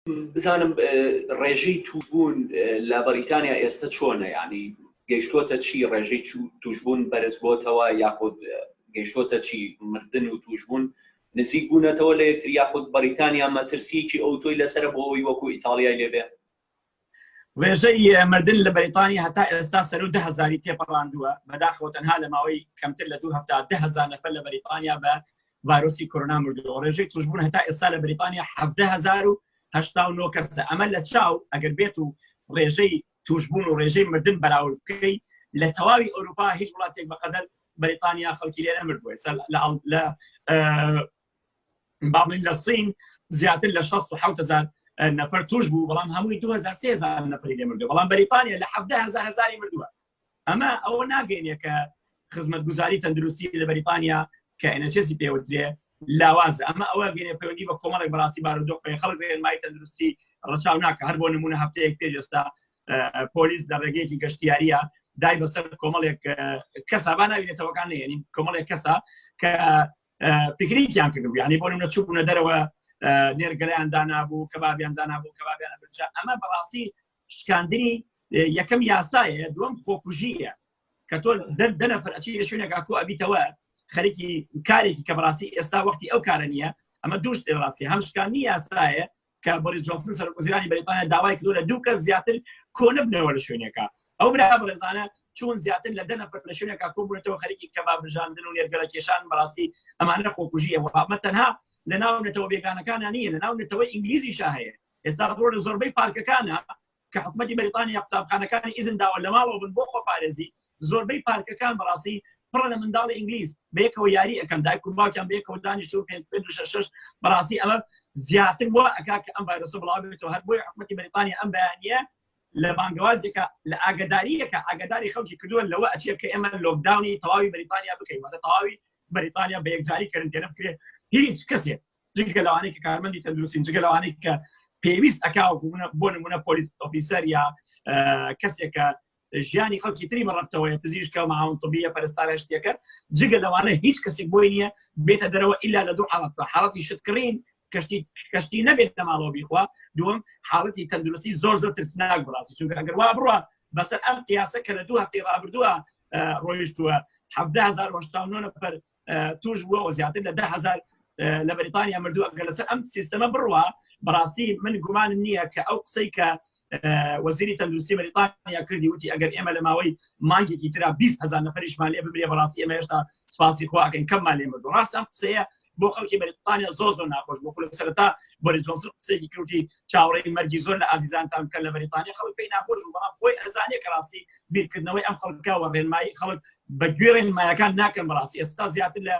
بزانم ڕێژەی تووشبوون لە بەریتانیا ئێستا چۆنە ینی گەیشتۆتە چی ڕێژەی توشببوون بەرز بۆتەوە یاخود گەیشتۆتە چی مردن و توشببوون نزیک بوونەتەوە لە یەکتر یاخود بەریتانیا مەترسیکی ئەو تۆی لەسەر بۆەوەی وەکو ئیتالیای لێبێ ڕێژەی مردن لە بەریتانی هەتا ئێستا سەر و دههزاری تێپەڕاندووە بەداخەوە تەنها لە ماوەی کەمتر لە دوو هەفتاهزار نەفر لە بەریتانیا بە ڤایرۆسی کۆرۆنا مردووەوە ڕێژەی توشبوون هەتا ئێستا لە بریتانیا هزار و هشتا و نۆ کەسە ئەمە لە چاو ئەگەر بێت و ڕێژەی توشبوون و ڕێژەی مردن بەراورد بکەی لە تەواوی ئەوروپا هیچ وڵاتێک بەقەدەر بەریتانیا خەڵکی لێ نەمرد بووە لە بابلین لە سین زیاتر لە 1600 نەفر توش بوو بەڵام هەمووی 2000 نەفری لێ مردو بەڵام بەریتانیا لە 1 هزاری مردووە ئەمە ئەوە ناگەینێ کە خزمەتگوزاری تەندروستی لە بەریتانیا کە ئەنەچێسی پێوترێ لاوازە ئەمە ئەوە گەێ پەیوەندی بە کۆمەڵێک بەڕاستی بارودۆخ پێ خەڵک ڕێنمای تەندروستی ڕەچاو ناکە هەر بۆ نمونە هەفتەیەک پێش ئێستا پۆلیس لە ڕێگەیەکی گەشتیاریە دای بەسەر کۆمەڵێک کەسا با ناوینێتەوەکان نێنین کۆمەڵێک کەسا کە پیکنیکیان کرد ینی بۆ نمونە چوبوونە دەرەوە نێرگەلیان دانابوو کەبابیان دانابوو کەبابیان برجا ئەمە بەڕاستی شکاندنی یەکەم یاسایە دوم خۆکوژیە کە تۆ دەر دەنەفر ئەچی لە شوێنێک ئاکۆ ئەبیتەوە خەرکی کارێکی کە بەڕاستی ئێستا وەختی ئەو کارە نییە ئەمە دوش ڕاستی هەم شکاندنی یاسایە کە بەڵی جۆفن سەر وزیرانی بەریتانیا داوای کردو لە دوو کەس زیاتر کۆنبنەوە لە شوێنێکە ئەو برا بەڕێزانە چون زیاتر لە دەنە لە شوێنێکا کۆبوونەتەوە خەرکی کە بابژاندن و نێرگەلە کێشان بەڕاستی ئەمانە خۆکوژیە وەڵامە تەنها لە ناو نەتەوە بێگانەکانە نیە لە ناو نەتەوە ئینگلیزی شاهەیە ئێستا ڕەپۆرت لە زۆربەی پارکەکانە کە حکومەتی بەریتانیا قوتابخانەکانی ئیزن داوە لەماڵەوە بن بۆ خۆپارێزی، زۆربەی پارکەکان بەڕاستی پڕە لە منداڵی ئینگلیز بەیەکەوە یاری ئەکەن دایک و باوکیان بەیەکەوە دانیشتون پێ پێ و شەش شەش بەڕاستی ئەمە زیاتر وا ئەکا کە ئەم ڤایرۆسە بڵاو بێتەوە هەر بۆیە حکومەتی بەریتانیا ئەم بەیانییە لە بانگەوازێکە لە ئاگداریەکە ئاگداری خەڵکی کردووە لەوە ئەچێت کە ئێمە لۆکداونی تەواوی بەریتانیا بکەین وەدە تەواوی بەریتانیا بە یەکجاری کەرنتێنە بکرێت هیچ کەسێک جگە لەوانەی کە کارمەندی تەندروستین جگە لەوانەی کە پێویست ئەکاوەکو منە بۆ نمونە پۆلیس ئۆفیسەر یا کەسێکە ژیانی خەڵکی تری بەڕەتەوەی پزیشکە و ماون طبیە پەرستارە شتێکە جگە لەوانە هیچ کەسێک بۆی نییە بێتە دەرەوە ئللا لە دوو حاڵەتە حاڵەتی شتکڕین کەشتی کەشتی نەبێت لە ماڵەوە بیخوا دوم حاڵەتی تەندروستی زۆر زۆر ترسناک بڕاستی چونکە ئەگەر وا بڕە بەسەر ئەم قیاسە کە لە دوو هەفتەی ڕابردووە ڕۆیشتووە 1970 نفر توش بووەوە زیاتر لە ده هزار لە بەریتانیا مردووە گە لەسەر ئەم سیستەمە بڕوە بەڕاستی من گومانم نییە کە ئەو قسەی کە وەزیری تەندروستی بەریتانیا کردی وتی ئەگەر ئێمە لە ماوەی مانگێکی تررا 20 هزار نەفریشمان لێ ببرێ بەڕاستی ئێمە هێشتا سپاسی خواکەین کەممان لێ مردو ڕاستم قسەیە بۆ خەڵکی بەریتانیا زۆ زۆر ناخۆش بۆ لە سەرتا بۆری جۆنسن قسێکی کردی چاوەڕێی مەرگی زۆر لە ئازیزانتان بکەن لە بەریتانیا خەڵک پێی ناخۆش بوو بەڵام خۆی ئەزانێ کە ڕاستی بیرکردنەوەی ئەم خەڵکە وە ڕێنمایی خەڵک بە گوێ ڕێنمایەکان ناکەن بەڕاستی ئێستا زیاتر لە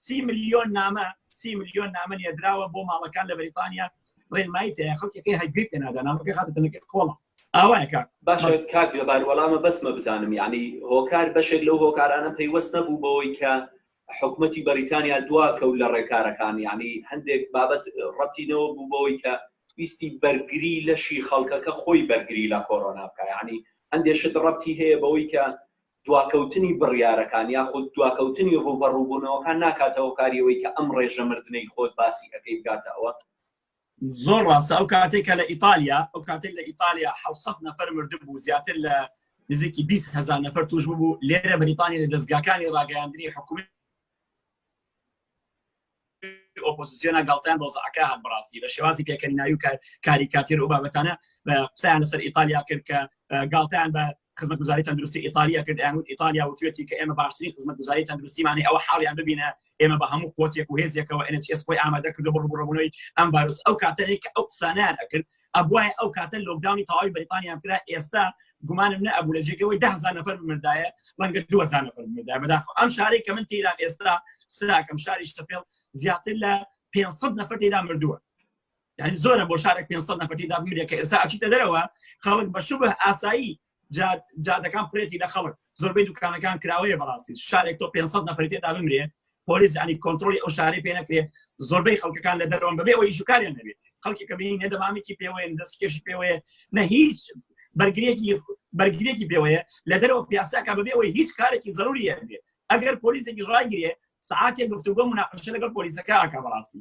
سی ملیۆن نامە سی ملیۆن نامە نێدراوە بۆ ماڵەکان لە بەریتانیا ڕێنمایی تەیە خەڵکەکەی هەگوێ پێ نادا نامەکە خاتە تەنەکە کۆڵە ئاوایەکە باشە کاک گوێبار وەڵامە بەسمە بزانم یعنی هۆکار بەشێک لەو هۆکارانە پەیوەست نەبوو بەوەی کە حکومەتی بەریتانیا دوا کەوت لە ڕێکارەکان یانی هەندێک بابەت ڕەتی نەوە بوو بەوەی کە ویستی بەرگری لەشی خەڵکەکە خۆی بەرگری لە کۆرۆنا بکە یانی هەندێ شت ڕەتی هەیە بەوەی کە دواکەوتنی بڕیارەکان یاخود دواکەوتنی ڕووبەڕووبوونەوەکان ناکاتەوە کاریەوەی کە ئەم ڕێژە مردنەی خۆت باسی ئەەکەی بگاتەوە زۆر ڕاستە ئەو کاتێک کە لە ئیتالیا ئەو کاتێک لە ئیتالیا 600 نەفەر مردبوو زیاتر لە نزیکی 20 هزار نەفەر توش ببوو لێرە بەریتانی لە دەستگاکانی ڕاگەیاندنی حکومی ئۆپۆسیۆنە گڵتیان ڕۆزعەکە هەر بڕاستی لە شێوازی پێکەنیناوی و کاریکاتیر و بابەتانە بە قسەیان لەسەر ئیتالیا کرد کە گاڵتیان بە خزمەت گوزاری تەندروستی ئیتالیا کرد یان و ئیتالیا وتوێتی کە ئێمە باشترین خزمەت گوزاری تەندروستیمانی ئەوە حاڵیان ببینە ئێمە بە هەموو قوتێک و هێزێکەوە NHS خۆی ئامادە کرد بڕ بڕبوونەوەی ئەم بارز ئەو کاتەیە کە ئەو قسانیان ئەکرد ئەبواە ئەو کاتە لۆکداونی تەواوی بەریتانیان کرا ئێستا گومانم نە ئەبوو لە جێگەوەی دهزار نەفر مردایە ڕەنگە دوزار نەفر مردا بەداخ ئەم شارێک کە من تیران ئێستا سراکەم شاری شتەپێڵ زیاتر لە 500 نەفر تێدا مردووە یعنی زۆرە بۆ شارێک 500 نەفر تێدا بمیرێکە ئێستا ئەچیتە دەرەوە خەڵک بە شوبه ئاسایی جادەکان پرێتی لە خەڵک زۆربەی دوکانەکان کراوەیە بەڕاستی شارێک تۆ 500 نەفری تێدا بمرێ پۆلیس ینی کۆنتترۆلی ئەو شارێ پێ نەکرێ زۆربەی خەڵکەکان لە دەرەوەن بەبێ ئەوەی ژکاریان نەبێت خەڵکی کە بینی نەدەمامێکی پێوەیە دەست کێشی پێوەیە نە هیچ بەرگرێکی بەرگرێکی پێوەیە لە دەرەوە پیاساکە بەبێ ئەوەی هیچ کارێکی زەروریە بێت ئەگەر پۆلیسێکی ڕایگرێ ساعتێک گفتوگۆ مناقشە لەگەڵ پۆلیسەکە ئاکە بەڕاستی